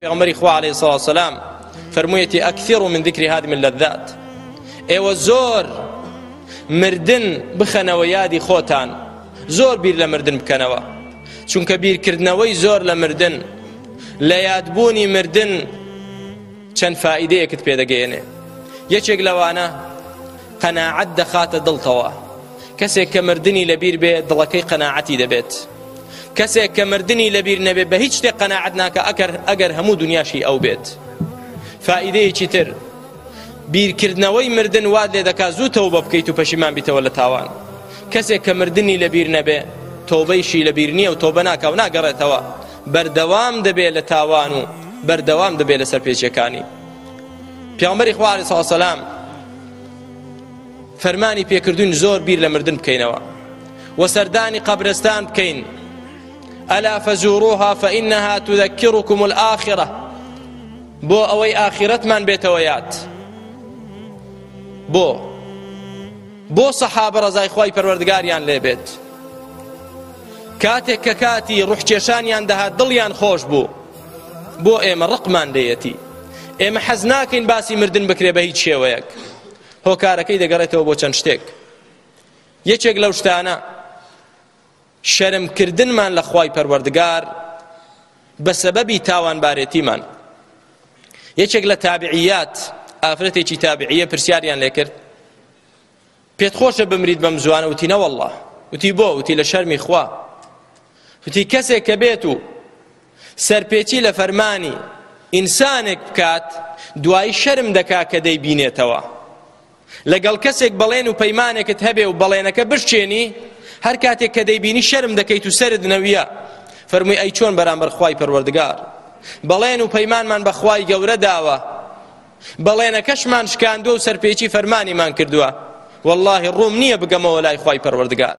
پێغمبەری خوا عليه الصلاة والسلام فرموویەتی ئەکثر من ذکر هادم اللذات ئێوە زۆر مردن بخەنەوە یادی خۆتان زۆر بیر لە مردن بکەنەوە چونکە بیرکردنەوەی زۆر لە مردن لە یادبوونی مردن چەند فائیدەیەکت پێدەگەیەنێ یەکێک لەوانە قەناعەت دەخاتە دڵتەوە کەسێک کە مردنی لەبیر بێ دڵەکەی قەناعەتی دەبێت کەسێک کە مردنی لەبیر نەبێ بە هیچ شتێک قەناعەت ناکە ئەکەر ئەگەر هەموو دنیاشی ئەو بێت فائیدەیەکی تر بیرکردنەوەی مردن واد لێ دەکات زوو تەوبە بکەیت و پەشیمان بیتەوە لە تاوان کەسێک کە مردنی لەبیر نەبێ تۆبەیشی لەبیر نییە و تۆبە ناکە و ناگەڕێتەوە بەردەوام دەبێت لە تاوان و بەردەوام دەبێت لەسەر پێچەکانی پیامبەری خوارد ساسەلام فەرمانی پێکردوین زۆر بیر لە مردن بکەینەوە و سەردانی قەبرستان بکەین ئەلا فەزوروها فەئینەها تذكركم الآخرة بۆ ئەوەی ئاخرەتمان بێتەوە یاد بۆ بۆ سەحابە ڕزای خی پەروەردگاریان لێبێت کاتێک کە کاتی ڕحکێشانیان دەهات دڵیان خۆش بوو بۆ ئێمە ڕقمان لێیەتی ئێمە حەز ناکەین باسی مردن بکرێ بە هیچ شێوەیەک هۆکارەکەی دەگەڕێتەوە بۆ چەند شتێک یەکێک لەو شتانە شەرمکردنمان لە خوای پەروەردگار بە سەبەبی تاوانبارێتیمان یەکێک لە تابعیات ئافرەتێکی تابعیە پرسیاریان لێکرد پێت خۆشە بمریت بەم زوانە وتی نەوەله وتی بۆ وتی لە شەرمی خوا وتی کەسێک کە بێت و سەرپێچی لە فەرمانی ئینسانێک بکات دوایی شەرم دەکا کە دەی بینێتەوە لەگەڵ کەسێک بەڵێن و پەیمانێکت هەبێ و بەڵێنەکە بشچێنی هەر کاتێک کە دەیبینی شەرم دەکەیت و سرد نەویە فەرمووی ئەی چۆن بەرامبەر خوای پەروەردگار بەڵێن و پەیمانمان بەخوای گەورە داوە بەڵێنەکەشمان شکاندوە و سەرپێچی فەرمانیمان کردوە واللە ڕووم نیە بگەمەوە لای خوای پەروەردگار.